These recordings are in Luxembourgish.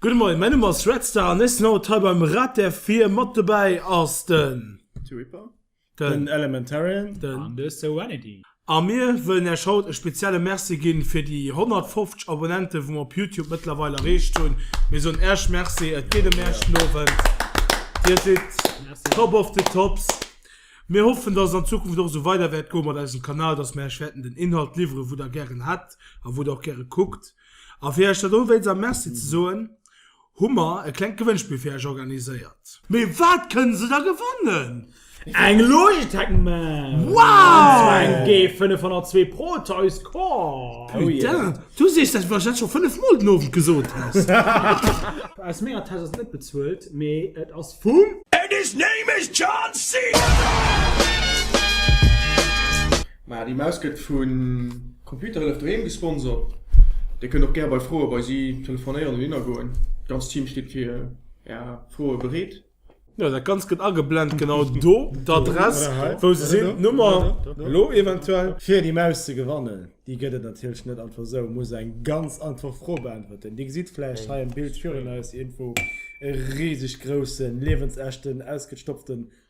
Gudde Moien, mäin Numm ass Red Star an ech sinn haut hei beim Rad der Vir. Mat dobäi ass den. T-Ripper. Den. Den Elementarian. Den. An de Serenity. A mir wëllen Iech haut e spezielle Merci ginn fir déi 150 Abonnenten, wou mer op Youtube mëttlerweil erreecht hunn. Mir soen Iech Merci, et geet ëm Iech den Owend. Dir sidd. Merci. Top of the Tops. Mir hoffen, dass et an Zukunft och esou weider wäert goe mat eisem Kanal, dass mir Iech wäerten den Inhalt liwweren, wou Der gären hätt a wou Der och gäre kuckt. A fir iech dat elo wéinst am Merci ze soen, hu mer e klengt Gewënnspill fir iech organiséiert. Mee wat kënne se da gewannen? Eng Logitech Maus! Wow! An zwar eng G502 Pro Toys Core! Putain! Du sees, dat wat ech dat scho 5 mol den Owend gesot has! Aus menger Täsch ass et net bezuelt, mee et ass vum. And his name is John Cena! Mä déi Maus gëtt vu Computerhëllef doheem gesponsert. Dir kënnt och gär bei Froe bei si telefonéieren oder hinnergoen. D'ganzt Team steet fir Är Froe bereet. Jo, dat Ganzt gëtt ageblent genau do, d'Adress, wou se sinn, d'Nummer, elo eventuell. Fir déi Maus ze gewannen, déi gëtt et natierlech net einfach esou, muss eng ganz einfach Fro beäntwerten. Dir gesitt vläicht hei am Bild virun eis iergendwou e riseg groussen, liewensechten, ausgestopften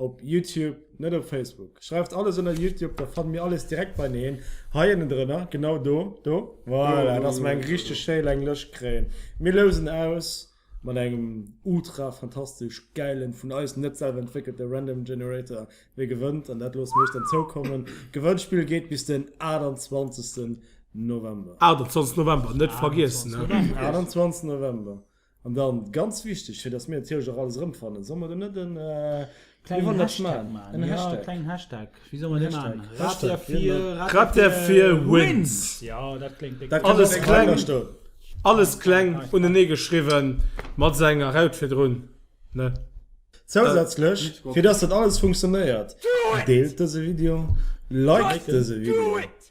Op Youtube, net op Facebook. Schreift alles ënner Youtube, da fannt mir alles direkt beineen. Hei ënnendrënner, genau do, do, voilà, dass mer eng richteg schéi laang Lëscht kréien. Mir lousen aus mat engem ultra fantastesch gäilen, vun eis net selwer entwéckelte Random Generator, wie gewënnt, an dat loosse mir iech dann zoukommen. Gewënnspill geet bis den 28 November. 28 November, net vergiessen, ne. 28 November. An dann ganz wichteg, fir dass mir natierlech och alles erëmfannen, solle mer do net e klengen Hashtag maachen? E Hashtag? Jo, e klengen Hashtag. Wéi solle mer dee maachen? Rad-der-fir. Rad-der-fir-wins. Jo, dat kléngt déck. Alles kleng, alles kleng unenee geschriwwen, mat esou enger Raut virdrun, ne? Zousätzlech, fir dass dat alles funktionéiert, deelt dëse Video, liked dëse Video.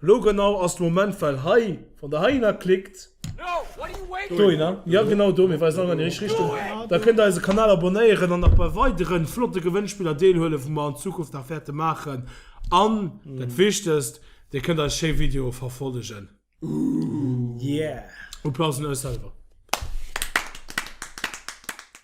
Lo genau ass de Moment well hei wann der heihinner klickt, dohinner, jo genau do, mir weisen all an déi richteg Richtung, da kënnt der eise Kanal abonéieren an nach bei weideren flotte Gewënnspiller deelhuelen wou mer an Zukunft nach wäerte maachen an dat wichtegst dir kënnt eis schéi Videoe verfollegen. Applaus un eis selwer.